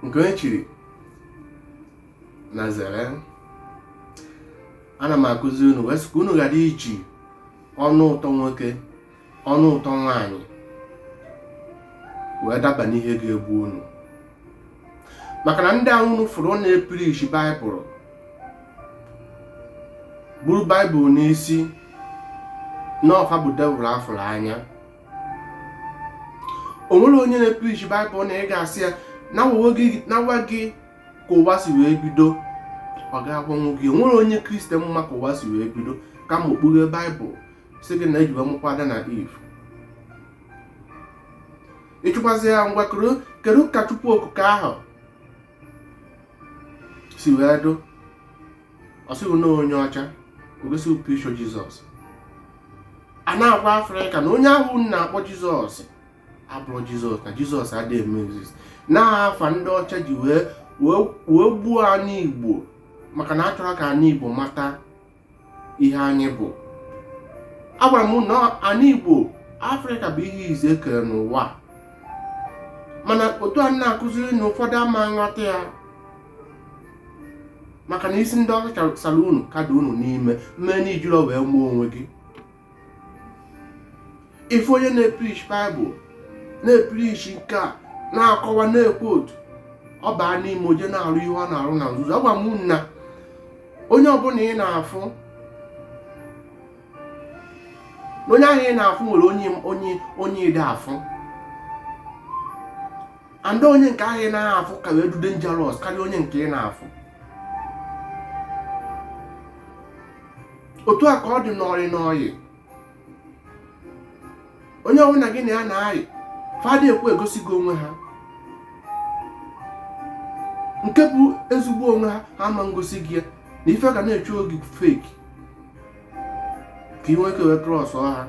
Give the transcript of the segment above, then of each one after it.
nke onye chiri nya zere ana m akụzi unu wee sị ka unu ghara iji ọnụ ụtọ nwoke ọnụ ụtọ nwaanyị wee daba n'ihe ga-egbu unu maka na ndị ahụ unu fụrụ na-eprish baịbụl buru baịbụl n'isi na ọ fa bụ devil a fụrụ anya o nwere onye na-eprichi baịbụl na ị ga-asị ya nya gwa gị ka ụwa si wee bido ọ ga-agwa gị o nwere onye kristian ma ka ụwa si wee bido kama o kpughe baịbụl sị gị na ejiwe mụkwa adam na eve ị jụkwazi ya ngwa kedu ka chukwu okike ahụ si wee dụ ọ sị gị na onye ọcha o gosi picture jizọs a na-agwa afrịka na onye ahụ na-akpọ jizọs abụrọ jizọs na jizọs adịghị eme exist na afa ndị ọcha ji wee gbuo anyị igbo maka na achọrọ ka anyị igbo mata ihe anyị bụ agwara m na anyị igbo afrịka bụ ihe izizi e kere n'ụwa mana otu a na-akụziri na ụfọdụ ama nghọta ya maka na isi ndị ọcha sara unu ka dụ unu n'ime mee na i jirọ wee ma onwe gị ife onye na-eprish baịbụl na-eprish nke a na-akọwa na-ekwu otu ọ baa n'ime o je na-arụ ihe ọ na-arụ na nzuzo agwa m na onye ọbụla ị na-afụ na onye ahụ ị na-afụ nwere onye onye onye ị dịghị afụ and onye nke ahụ ị na-ahụ afụ ka wee dụ dangerous karịa onye nke ị na-afụ otu a ka ọ dị n'ọyị n'ọyị onye ọbụla gị na ya na-ayị fa adị ekwe egosi gị onwe ha nke bụ ezigbo onwe ha ha ama ngosi gị ya na ife ga na-eshow gị fake ka ị nwee ike wee trust ha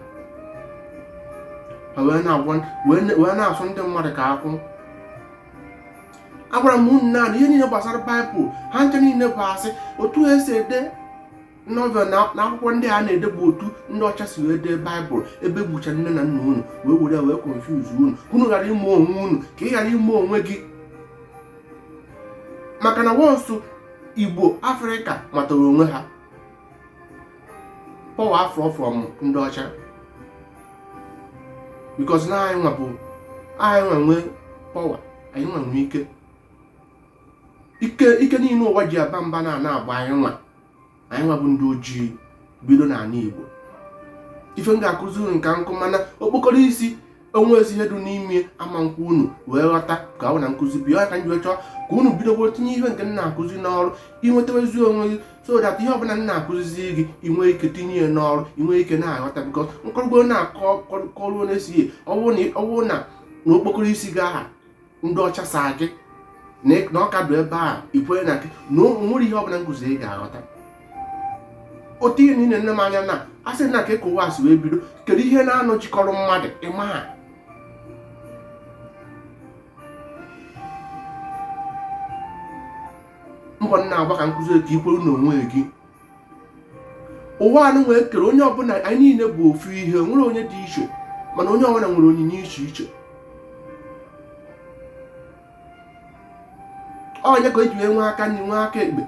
ha wee na-agwa wee na- wee na-asụ ndị mmadụ ka akwụ agwara m unu na ihe niile gbasara baịbụl ha ncha niile bụ asị otu e si ede novel na akwụkwọ ndị a na-ede bụ otu ndị ọcha si wee dee baịbụl ebe gbucha nne na nna unu wee were wee confuse unu ka unu ghara ịma onwe unu ka ị ghara ịma onwe gị maka na once igbo afrịka matara onwe ha power afụọ from ndị ọcha because na anyị nwa bụ anyị nwa nwe power anyị nwa nwe ike ike ike niile ụwa ji aba mba na ana agba anyị nwa anyị nwa bụ ndị ojii bido n'ala Igbo ife m ga-akụzi unu nke nkụ mana okpokoro isi o nwezi ihe dị n'ime ama nkwụ unu wee ghọta ka ọ na nkụzi bi ya ka m ji chọọ ka unu bidogbo tinye ihe nke m na-akụzi n'ọrụ i nwetawazi onwe gị so that ihe ọbụla m na-akụzizi gị i nwee ike tinye ya n'ọrụ i nwee ike na-aghọta because m kọrọgbo na-akọ kọruo na-esighị ọwụ na okpokoro isi gị aha ndị ọcha saa gị na ọ ka dụ ebe a i kwere na gị na nwerọ ihe ọbụla m kụzi ị ga-aghọta otu ihe niile nne m anya na a sị na ka eke ụwa si wee bido kedu ihe na-anọchikọrọ mmadụ ịma ha mbọ m na-agba ka m kụzi ka i kwere na onwe gị ụwa anụ nwee kere onye ọbụla anyị niile bụ ofu ihe nwerọ onye dị iche mana onye ọbụla nwere onyinye iche iche ọ ya ka e ji wee nwee aka nri nwee aka ekpe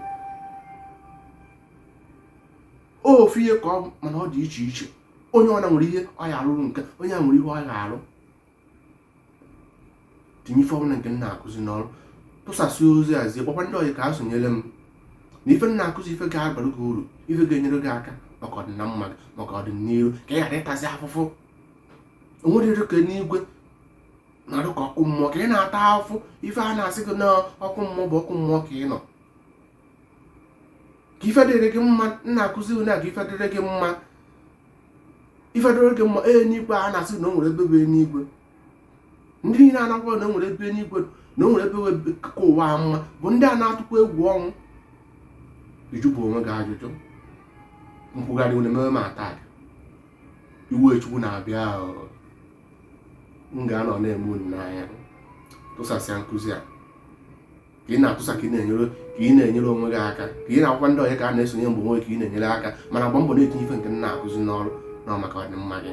ofu ihe ka ọ mana ọ dị iche iche onye ọbụla nwere ihe ọ ya-arụrụ nke onye a nwere ihe ọ ya-arụ tinye ife ọbụla nke m na-akụzi n'ọrụ tụsasị ozi a zie kpọkwa ndị ọyị ka ha sonyere m na ife m na-akụzi ife ga-abara gị uru ife ga-enyere gị aka maka ọdịna mma gị maka ọdịnihu ka ị ghara ịtazi afụfụ o nwerọ ihe dị ka enigwe na-adụ ka ọkụ mmụọ ka ị na-ata afụfụ ife a na-asị gị na ọkụ mmụọ bụ ọkụ mmụọ ka ị nọ ka ife dịrị gị mma m na-akụzi unu a ka ife dịrị gị mma ife dịrị gị mma enigwe a na-asị na o nwere ebe bụ enigwe ndị niile a na-akọ na o nwere ebe enigwe na o nwere ebe ka ụwa mma bụ ndị a na-atụkwa egwu ọnwụ ị jụbu onwe gị ajụjụ nkwugharị unu ememe m ata iwe chukwu na-abịa m ga-anọ na-ene unu anya tụsasịa nkụzi a ka ị na-atụsa ka ị na-enyere ka ị na-enyere onwe gị aka ka ị na-akpọkwa ndị ọyị ka ha na-esonye ọ bụ onwe gị ka ị na-enyere aka ma na-agba mbọ na-etinye ife nke m na-akụzi n'ọrụ na maka ọdịmma gị